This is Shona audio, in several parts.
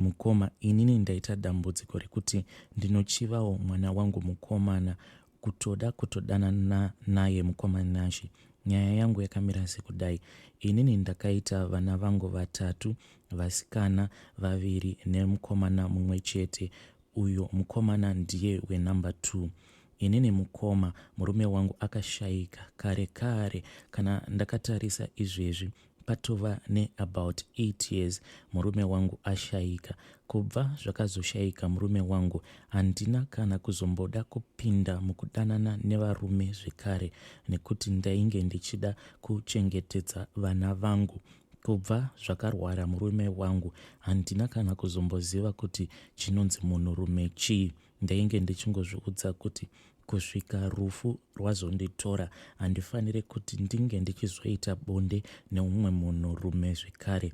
Mukoma inini ndaita dambudziko rekuti ndinochivawo mwana wangu mukomana kutoda kutodanana naye mukoma Nashy. Nyaya yangu yakamira sekudai, inini ndakaita vana vangu vatatu, vasikana vaviri nemukomana mumwe chete, uyo mukomana ndiye wenumber two. Inini mukoma, murume wangu akashaika kare kare. Kana ndakatarisa izvezvi Patova neabout 8 years murume wangu ashaika. Kubva zvakazoshaika murume wangu, handina kana kuzomboda kupinda mukudanana nevarume zvekare nekuti ndainge ndichida kuchengetedza vana vangu. Kubva zvakarwara murume wangu, handina kana kuzomboziva kuti chinonzi munhurume chii. Ndainge ndichingozviudza kuti kusvika rufu rwazonditora handifanire kuti ndinge ndichizoita bonde neumwe munhu rume zvekare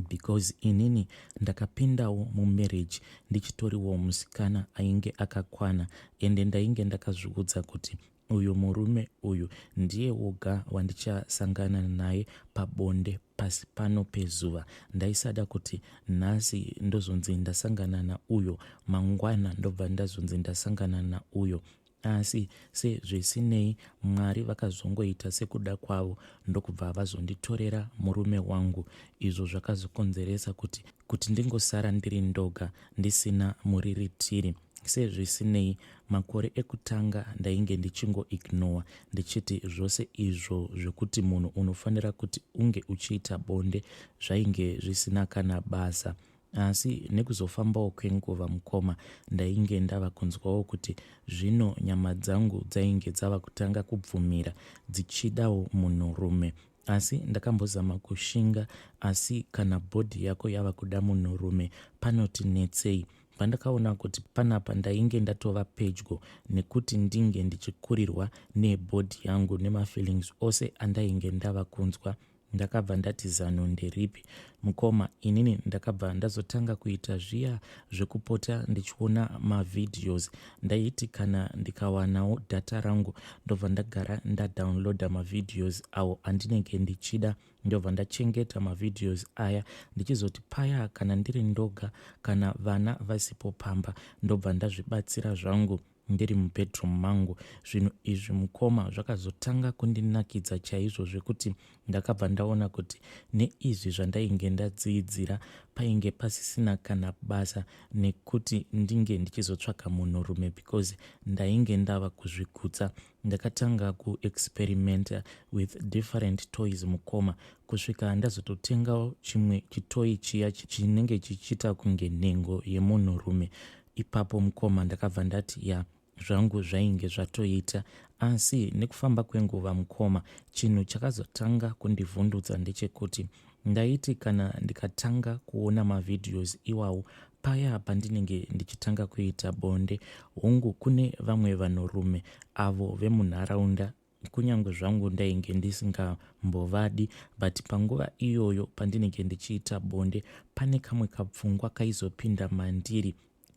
because inini ndakapindawo mumarriage ndichitoriwo musikana ainge akakwana ende ndainge ndakazviudza kuti uyu murume uyu ndiye woga wandichasangana naye pabonde pasi pano pezuva ndaisada kuti nhasi ndozonzi ndasangana nauyo mangwana ndobva ndazonzi ndasangana nauyo asi sezvisinei mwari vakazongoita sekuda kwavo ndokubva vazonditorera murume wangu izvo zvakazokonzeresa kuti kuti ndingosara ndiri ndoga ndisina muriritiri sezvisinei makore ekutanga ndainge ndichingoignowa ndichiti zvose izvo zvekuti munhu unofanira kuti unge uchiita bonde zvainge zvisina kana basa asi nekuzofambawo kwenguva mukoma ndainge ndava kunzwawo kuti zvino nyama dzangu dzainge dzava kutanga kubvumira dzichidawo munhurume Asi ndakambozama kushinga asi kana body yako yava kuda munhurume panoti netsei pandakaona kuti panapa ndainge ndatova pedyo nekuti ndinge ndichikurirwa nebody yangu nemafeelings ose andainge ndava kunzwa ndakabva ndati zano nderipi mukoma inini ndakabva ndazotanga kuita zviya zvekupota ndichiona mavideos ndaiti kana ndikawanawo data rangu ndobva ndagara ndadownloada mavideos awo andinenge ndichida ndobva ndachengeta mavideos aya ndichizoti paya kana ndiri ndoga kana vana vasipo pamba ndobva ndazvibatsira zvangu ndiri mubedroom mangu zvinhu izvi mukoma zvakazotanga kundinakidza chaizvo zvekuti ndakabva ndaona kuti neizvi zvandainge ndadziidzira painge pasisina kana basa nekuti ndinge ndichizotsvaka munhurume because ndainge ndava kuzvigutsa ndakatanga kuexperimenta with different toys mukoma kusvika ndazototengawo chimwe chitoyi chiya chinenge chichiita kunge nhengo yemunhurume ipapo mukoma ndakabva ndati ya zvangu zvainge zvatoita asi nekufamba kwenguva mukoma chinhu chakazotanga kundivhundutsa ndechekuti ndaiti kana ndikatanga kuona mavhidhios iwawo paya pandinenge ndichitanga kuita bonde hungu kune vamwe vanhurume avo vemunharaunda kunyange zvangu ndainge ndisingambovadi but panguva iyoyo pandinenge ndichiita bonde pane kamwe kapfungwa kaizopinda mandiri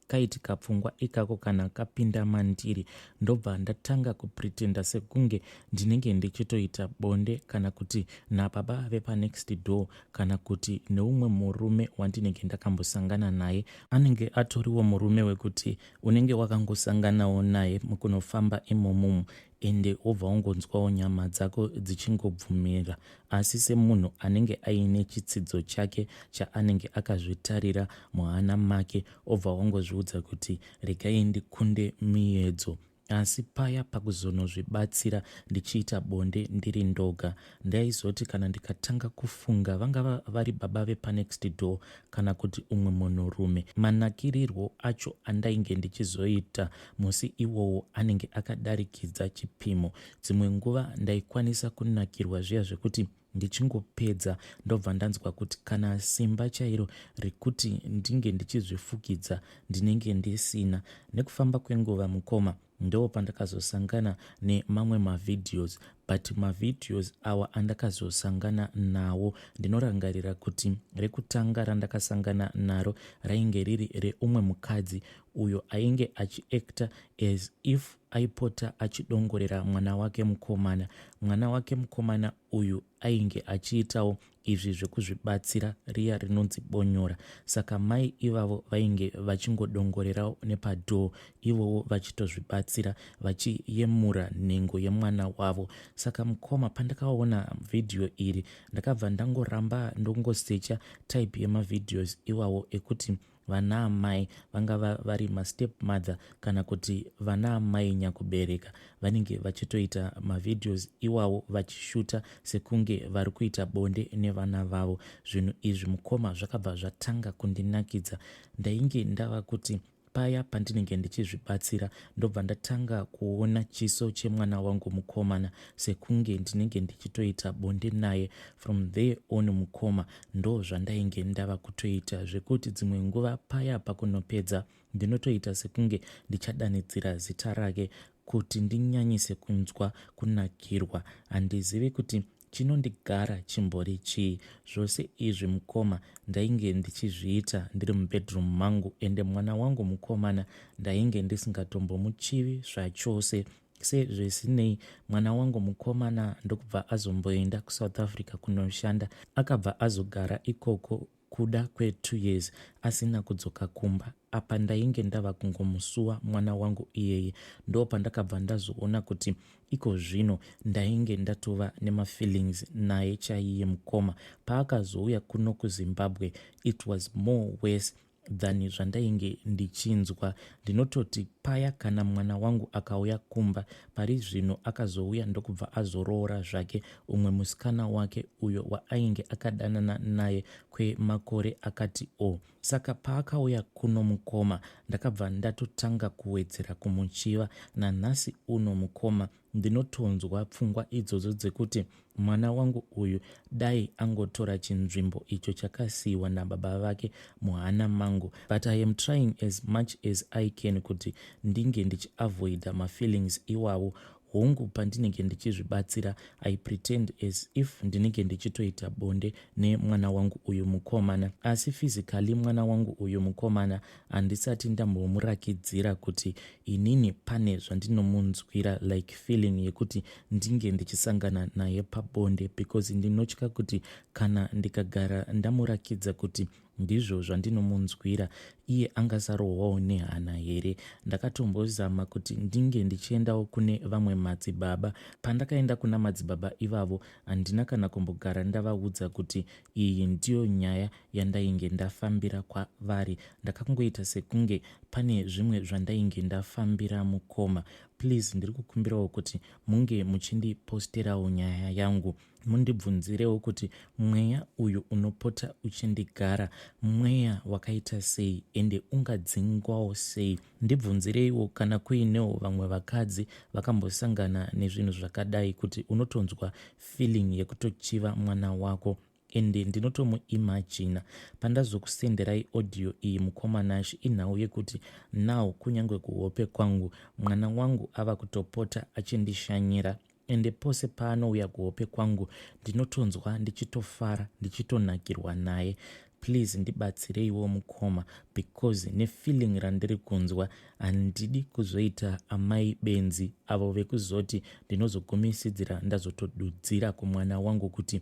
kaiti kapfungwa ikako kana kapinda mandiri ndobva ndatanga kupretenda sekunge ndinenge ndichitoita bonde kana kuti nababa vepanext door kana kuti neumwe murume wandinenge ndakambosangana naye anenge atoriwo murume wekuti unenge wakangosanganawo naye mukunofamba imomumu ende wobva wongonzwawo nyama dzako dzichingobvumira asi semunhu anenge aine chitsidzo chake chaanenge akazvitarira muhana make obva wongozviudza kuti regai ndikunde miyedzo asi paya pakuzonozvibatsira ndichiita bonde ndiri ndoga Ndaizoti kana ndikatanga kufunga vangava vari baba vepanext door kana kuti umwe munhurume, manakirirwo acho andainge ndichizoita musi iwowo anenge akadarikidza chipimo. Dzimwe nguva ndaikwanisa kunakirwa zviya zvekuti ndichingopedza ndobva ndanzwa kuti kana simba chairo rekuti ndinge ndichizvifukidza ndinenge ndisina. Nekufamba kwenguva mukoma ndopandakazosangana nemamwe mavideos but mavideos awa andakazosangana nawo ndinorangarira kuti rekutanga randakasangana naro rainge riri reumwe mukadzi uyo ainge achiacta as if aipota achidongorera mwana wake mukomana mwana wake mukomana uyu ainge achiitawo izvi zvekuzvibatsira riya rinonzi bonyora saka mai ivavo vainge vachingodongorerawo nepadhoo ivowo vachitozvibatsira vachiyemura nhengo yemwana wavo saka mukoma pandakaona vhidhiyo iri ndakabva ndangoramba ndongosecha type yemavhidhios iwawo ekuti Vana amai vangava vari mastep mother kana kuti vana amai nyakubereka vanenge vachitoita mavideos iwawo vachishuta sekunge vari kuita bonde nevana vavo. Zvinhu izvi mukoma zvakabva zvatanga kundinakidza. Ndainge ndava kuti paya pandinenge ndichizvibatsira ndobva ndatanga kuona chiso chemwana wangu mukomana sekunge ndinenge ndichitoita bonde naye from there on mukoma Ndoo zvandainge ndava kutoita zvekuti dzimwe nguva paya pakunopedza ndinotoita sekunge ndichadanidzira zita rake kuti ndinyanyise kunzwa kunakirwa. Handizivi kuti chinondigara chimbori chii. Zvose izvi mukoma ndainge ndichizviita ndiri mubedroom mangu ende mwana wangu mukomana ndainge ndisingatombomuchivi zvachose sezvisinei mwana wangu mukomana ndokubva azomboenda kusouth africa kunoshanda akabva azogara ikoko kuda kwetwo years asina kudzoka kumba apa ndainge ndava kungomusuwa mwana wangu iyeye ndo pandakabva ndazoona kuti iko zvino ndainge ndatova nemafeelings naye chaiye mukoma paakazouya kuno kuzimbabwe it was more worse than zvandainge ndichinzwa ndinototi paya kana mwana wangu akauya kumba pari zvino akazouya ndokubva azoroora zvake umwe musikana wake uyo waainge akadanana naye kwemakore akati o oh. saka paakauya kuno mukoma ndakabva ndatotanga kuwedzera kumuchiva nanhasi uno mukoma ndinotonzwa pfungwa idzodzo dzekuti mwana wangu uyu dai angotora chinzvimbo icho chakasiyiwa nababa vake muhana mangu but i am trying as much as i can kuti ndinge ndichiavoida mafeelings iwawo hongu pandinenge ndichizvibatsira i pretend as if ndinenge ndichitoita bonde nemwana wangu uyu mukomana asi physically mwana wangu uyu mukomana handisati ndambomurakidzira kuti inini pane zvandinomunzwira like feeling yekuti ndinge ndichisangana naye pabonde because ndinotya kuti kana ndikagara ndamurakidza kuti ndizvo zvandinomunzwira iye angasarohwawo nehana here ndakatombozama kuti ndinge ndichiendawo kune vamwe madzibaba pandakaenda kuna madzibaba ivavo handina kana kumbogara ndavaudza kuti Iyi ndiyo nyaya yandainge ndafambira kwavari. Ndakangoita sekunge pane zvimwe zvandainge ndafambira mukoma. Please ndiri kukumbirawo kuti munge muchindiposterawo nyaya yangu. Mundibvunzirewo kuti mweya uyu unopota uchindigara mweya wakaita sei ende ungadzingwawo sei. Ndibvunzireiwo kana kuinewo vamwe vakadzi vakambosangana nezvinhu zvakadai kuti unotonzwa feeling yekutochiva mwana wako and ndinotomuimagina pandazokusenderai audio iyi mukoma nash inhau yekuti now kunyange kuhope kwangu mwana wangu ava kutopota achindishanyira ende pose paanouya kuhope kwangu ndinotonzwa ndichitofara ndichitonakirwa naye please ndibatsireiwo mukoma because nefeeling randiri kunzwa handidi kuzoita amai benzi avo vekuzoti ndinozogumisidzira ndazotodudzira kumwana wangu kuti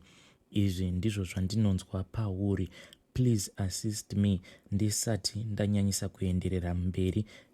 izvi ndizvo zvandinonzwa pauri please assist me ndisati ndanyanyisa kuenderera mberi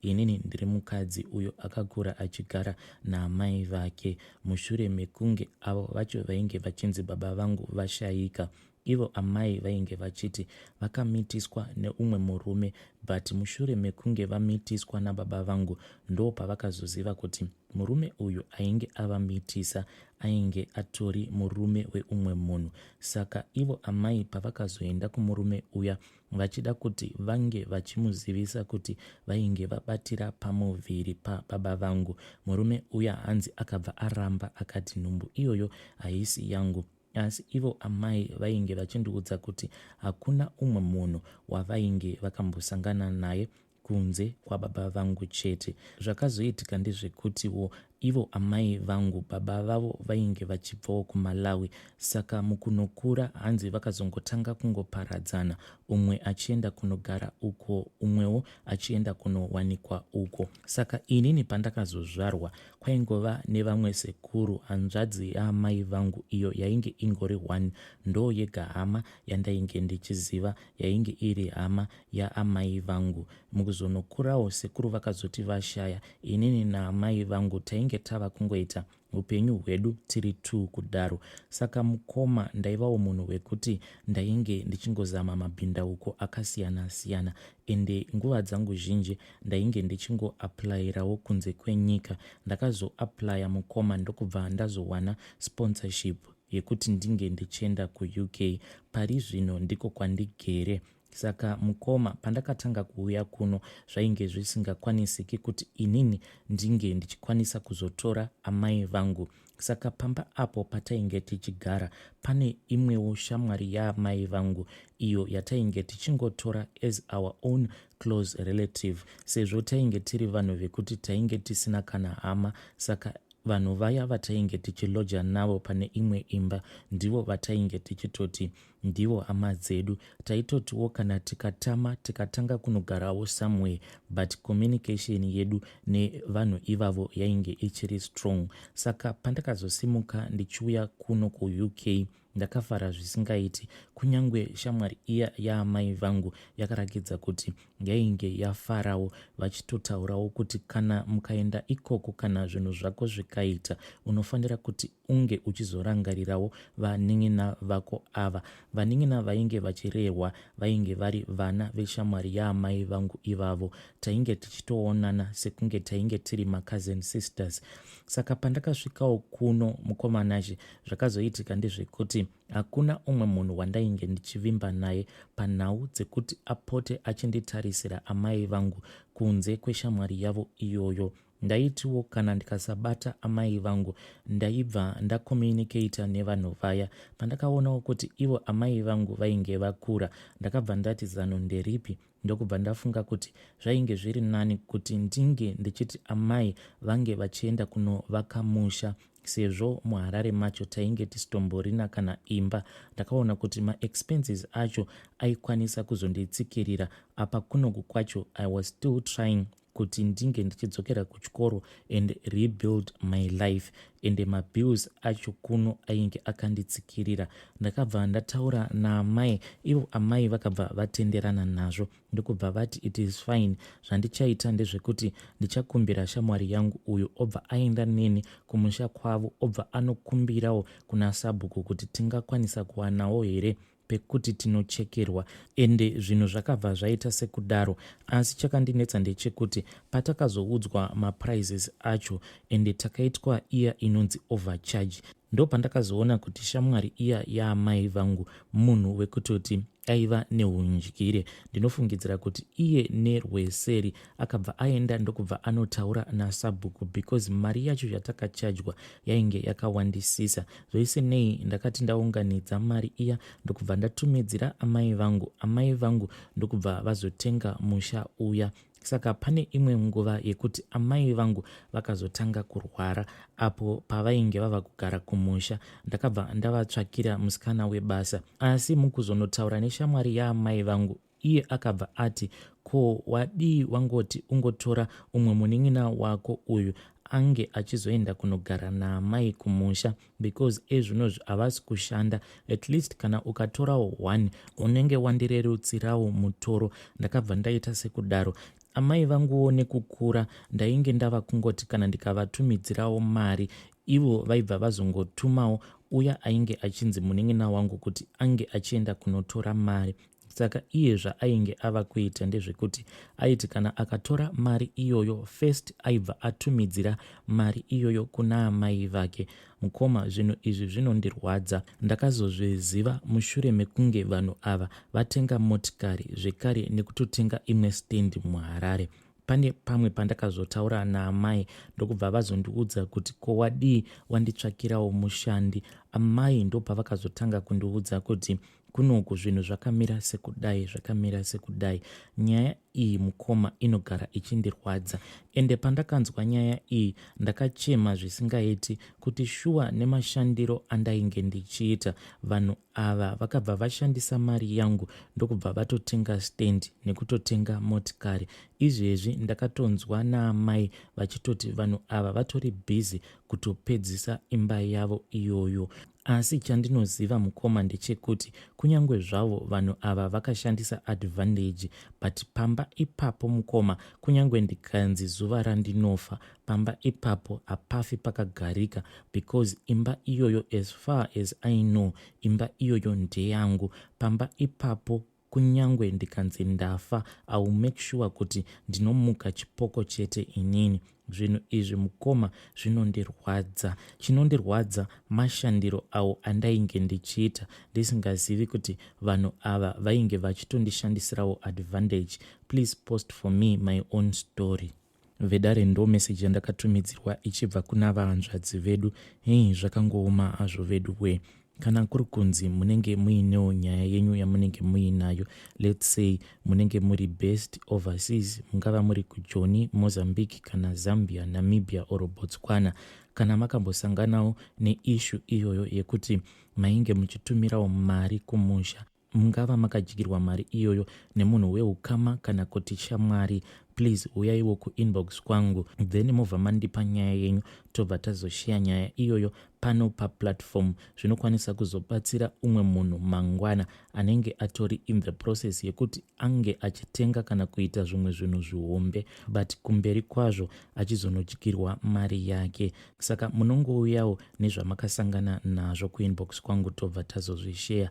Inini ndiri mukadzi uyo akakura achigara naamai vake mushure mekunge avo vacho vainge vachinzi baba vangu vashaika. Ivo amai vainge vachiti vakamitiswa neumwe murume but mushure mekunge vamitiswa nababa vangu ndo pavakazoziva kuti murume uyu ainge avamitisa ainge atori murume weumwe munhu. Saka ivo amai pavakazoenda kumurume uya vachida kuti vange vachimuzivisa kuti vainge vabatira pamuviri pababa vangu murume uya hanzi akabva aramba akati nhumbu iyoyo haisi yangu asi ivo amai vainge vachindiudza kuti hakuna umwe munhu wavainge vakambosangana naye kunze kwababa vangu chete. Zvakazoitika ndezvekutiwo ivo amai vangu baba vavo vainge vachibvawo kumalawi saka mukunokura hanzi vakazongotanga kungoparadzana umwe achienda kunogara uko umwewo achienda kunowanikwa uko saka inini pandakazozvarwa kwaingova nevamwe sekuru hanzvadzi yaamai vangu iyo yainge ingori one ndoo yega hama yandainge ndichiziva yainge iri hama yaamai vangu. Mukuzonokurawo sekuru vakazoti vashaya, inini naamai vangu tainge tava kungoita upenyu hwedu tiri two kudaro. Saka mukoma ndaivawo munhu wekuti ndainge ndichingozama mabhindauko akasiyana siyana ende nguva dzangu zhinji ndainge ndichingoaplayirawo kunze kwenyika. Ndakazoaplaya mukoma ndokubva ndazowana sponsorship yekuti ndinge ndichienda kuUK. Pari zvino ndiko kwandigere saka mukoma pandakatanga kuuya kuno zvainge zvisingakwanisiki kuti inini ndinge ndichikwanisa kuzotora amai vangu saka pamba apo patainge tichigara pane imwewo shamwari yaamai vangu iyo yatainge tichingotora as our own close relative sezvo tainge tiri vanhu vekuti tainge tisina kana hama saka vanhu vaya vatainge tichiloja navo pane imwe imba ndivo vatainge tichitoti Ndivo hama dzedu. Taitotiwo kana tikatama tikatanga kunogarawo somewhere but communication yedu nevanhu ivavo yainge ichiri strong. Saka pandakazosimuka ndichiuya kuno kuUK ndakafara zvisingaiti. Kunyange shamwari iya yaamai vangu yakarakidza kuti yainge yafarawo vachitotaurawo kuti kana mukaenda ikoko kana zvinhu zvako zvikaita unofanira kuti unge uchizorangarirawo vanin'ina vako ava. Vanin'ina vainge vachirehwa vainge vari vana veshamwari yaamai vangu ivavo. Tainge tichitoonana sekunge tainge tiri macousin sisters. Saka pandakasvikawo kuno mukomanazhe zvakazoitika ndezvekuti hakuna umwe munhu wandainge ndichivimba naye panhau dzekuti apote achinditarisira amai vangu kunze kweshamwari yavo iyoyo. Ndaitiwo kana ndikasabata amai vangu ndaibva ndacommunicator nevanhu vaya. Pandakaonawo kuti ivo amai vangu vainge vakura ndakabva ndati zano nderipi ndokubva ndafunga kuti zvainge zviri nani kuti ndinge ndichiti amai vange vachienda kunovaka musha sezvo muharare macho tainge tisitomborina kana imba ndakaona kuti maexpenses acho aikwanisa kuzonditsikirira apa kunoku kwacho i was still trying kuti ndinge ndichidzokera kuchikoro and rebuild my life ende mabills acho kuno ainge akanditsikirira ndakabva ndataura naamai ivo amai vakabva vatenderana nazvo ndokubva vati it is fine zvandichaita ndezvekuti ndichakumbira shamwari yangu uyu obva aenda neni kumusha kwavo obva anokumbirawo kuna sabhuku kuti tingakwanisa kuwanawo here pekuti tinochekerwa ende zvinhu zvakabva zvaita sekudaro asi chakandinetsa ndechekuti patakazoudzwa maprizes acho ende takaitwa iya inonzi overcharge ndopandakazoona kuti shamwari iya yaamai vangu munhu wekutoti aiva neuundyire ndinofungidzira kuti iye nerweseri akabva aenda ndokubva anotaura nasabhuku because mari yacho yatakachajwa yainge yakawandisisa zvoise nei ndakati ndaunganidza mari iya ndokubva ndatumidzira amai vangu amai vangu ndokubva vazotenga musha uya saka pane imwe nguva yekuti amai vangu vakazotanga kurwara apo pavainge vava kugara kumusha ndakabva ndavatsvakira musikana webasa asi mukuzonotaura neshamwari yaamai vangu iye akabva ati ko wadii wangoti ungotora umwe munin'ina wako uyu ange achizoenda kunogara naamai kumusha because ezvinozvi havasi kushanda at least kana ukatorawo one unenge wandirerutsirawo mutoro ndakabva ndaita sekudaro amai vanguwo nekukura ndainge ndava kungoti kana ndikavatumidzirawo mari ivo vaibva vazongotumawo uya ainge achinzi munin'ina wangu kuti ange achienda kunotora mari saka iye zvaainge ava kuita ndezvekuti aiti kana akatora mari iyoyo first aibva atumidzira mari iyoyo kuna amai vake mukoma zvinhu izvi zvinondirwadza ndakazozviziva mushure mekunge vanhu ava vatenga motikari zvekare nekutotenga imwe stendi muharare pane pamwe pandakazotaura naamai ndokubva vazondiudza kuti ko wadii wanditsvakirawo mushandi amai ndopavakazotanga kundiudza kuti kunoku zvinhu zvakamira sekudai zvakamira sekudai nyaya iyi mukoma inogara ichindirwadza ende pandakanzwa nyaya iyi ndakachema zvisingaiti kuti shuwa nemashandiro andainge ndichiita vanhu ava vakabva vashandisa mari yangu ndokubva vatotenga stand nekutotenga motikari izvezvi ndakatonzwa naamai vachitoti vanhu ava vatori bhizi kutopedzisa imba yavo iyoyo Asi chandinoziva mukoma ndechekuti kunyange zvavo vanhu ava vakashandisa advantage but pamba ipapo mukoma kunyange ndikanzi zuva randinofa pamba ipapo hapafi pakagarika because imba iyoyo as far as i know imba iyoyo ndeyangu pamba ipapo Kunyangwe ndikanzi ndafa I will make sure kuti ndinomuka chipoko chete inini. Zvinhu izvi mukoma zvinondirwadza. Chinondirwadza mashandiro awo andainge ndichiita ndisingazivi kuti vanhu ava vainge vachitondishandisirawo advantage. Please post for me my own story. vedare ndo message yandakatumidzirwa ichibva kuna vahanzvadzi vedu hei zvakangooma hazvo vedu wee kana kuri kunzi munenge muinewo nyaya yenyu yamunenge muinayo lets say munenge muri best overseas mungava muri kujoni mozambique kana zambia namibia or botswana kana makambosanganawo neishu iyoyo yekuti mainge muchitumirawo mari kumusha mungava makadyirwa mari iyoyo nemunhu weukama kana kuti shamwari please huyaiwo kuinbox kwangu then mobva mandipa nyaya yenyu tobva tazosheya nyaya iyoyo pano paplatform zvinokwanisa kuzobatsira umwe munhu mangwana anenge atori in the process yekuti ange achitenga kana kuita zvimwe zvinhu zvihombe but kumberi kwazvo achizonodyirwa mari yake saka munongouyawo nezvamakasangana nazvo kuinbox kwangu tobva tazozvisheya